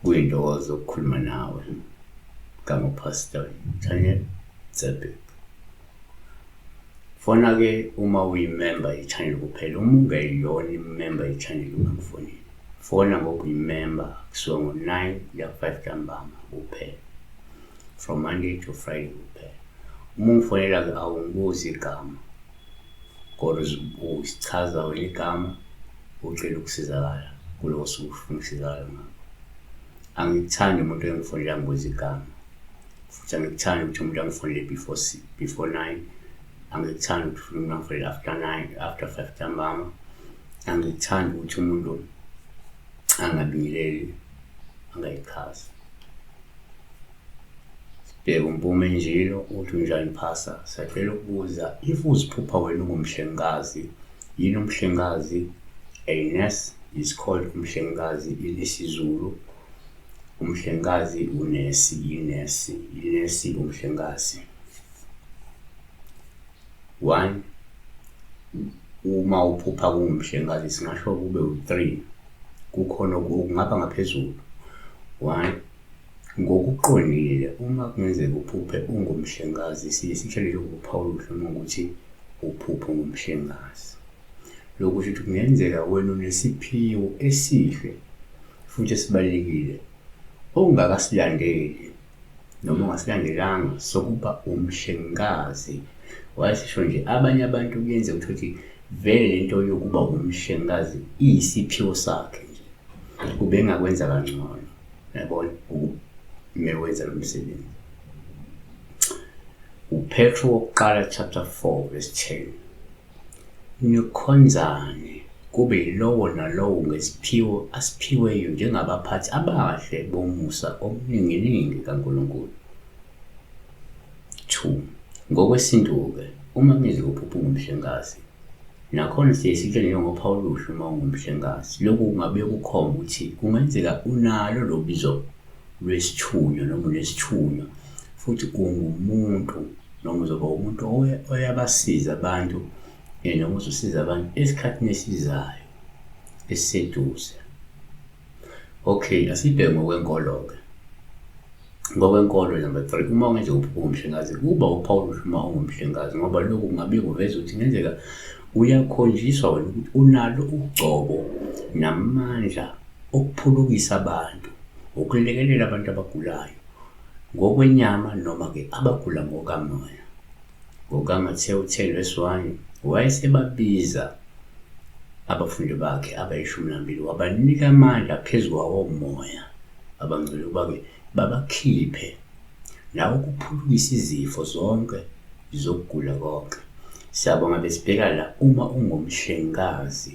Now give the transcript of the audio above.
kuyintokozo ukukhuluma nawe gama pastor Daniel Zebek fona ke uma uyimemba ye-channel kuphela uma ungeyona imemba ye-channel ungakufoneli fona ngoba uyimemba kusuka ngo-9 kuya ku-5 ntambama kuphela from monday to friday kuphela uma ungifonela-ke awungibuzi igama kodwa usichaza wena igama ucela ukusizakala kulowo suku ufuna ukusizakala ngakho angikuthandi umuntu engifonela ngibuza igama futhi angikuthandi ukuthi umuntu angifonele before before nine angikuthandi ukuthi ufuna umuntu angifonele after nine after five ntambama angikuthandi ukuthi umuntu angabingeleli angayichazi sibheke umpume njilo uthi unjani phasa sacela ukubuza if uziphupha wena ungumhlengikazi yini umhlengikazi a nurse is called umhlengikazi ilisizulu umhlengikazi unesi yinesi yinesi umhlengikazi One, uma uphupha kungumhlengikazi singasho kube u-three kukhona okungaba ngaphezulu one ngokuqondile uma kungenzeka uphuphe ungumhlengikazi siye sitshelele ukuphawula uhluma ukuthi uphuphe ungumhlengikazi lokhu kusho ukuthi kungenzeka wena unesiphiwo esihle futhi esibalulekile ongakasilandeli noma ungasilandelanga sokuba umhlengikazi wayesisho nje abanye abantu kuyenzeka ukuthi ukuthi vele le nto yokuba umhlengikazi iyisiphiwo sakhe nje ubengakwenza kangcono yabona mewenza lo msebenzi upetro wokuqala chapter 4 verse 10 Nikhonzane, kube yilowo nalowo ngesiphiwo asiphiweyo njengabaphathi abahle bomusa omninginingi kaNkulunkulu. 2 Ngokwesintu-ke, uma nizwa uphupha ungumhlengikazi, nakhona siye sitshele njengophawu oluhle uma ungumhlengikazi, lokhu kungabuye kukhombe ukuthi kungenzeka unalo lolu bizo lwesithunywa noma unesithunywa futhi ungumuntu. noma uzoba umuntu oyabasiza abantu eh, noma uzosiza abantu esikhathini esizayo esiseduze okay asibheke ngokwenkolo-ke ngokwenkolo number three uma ungenze uphuke umhlengazi kuba upawulusha uma ungumhlengazi ngoba lokhu kungabe kuveza ukuthi ngenzeka uyakhonjiswa wena ukuthi unalo ugcobo namandla okuphulukisa abantu ukulekelela abantu abagulayo ngokwenyama noma-ke abagula ngokamoya. NgokaMathewu 10 vesi 1, wayesebabiza abafundi bakhe abayishumi nambili wabanika amandla phezu kwawomoya abangcwele ukuba-ke babakhiphe nawo kuphulukisa izifo zonke zokugula konke. Siyabonga besibheka la uma ungumhlengikazi.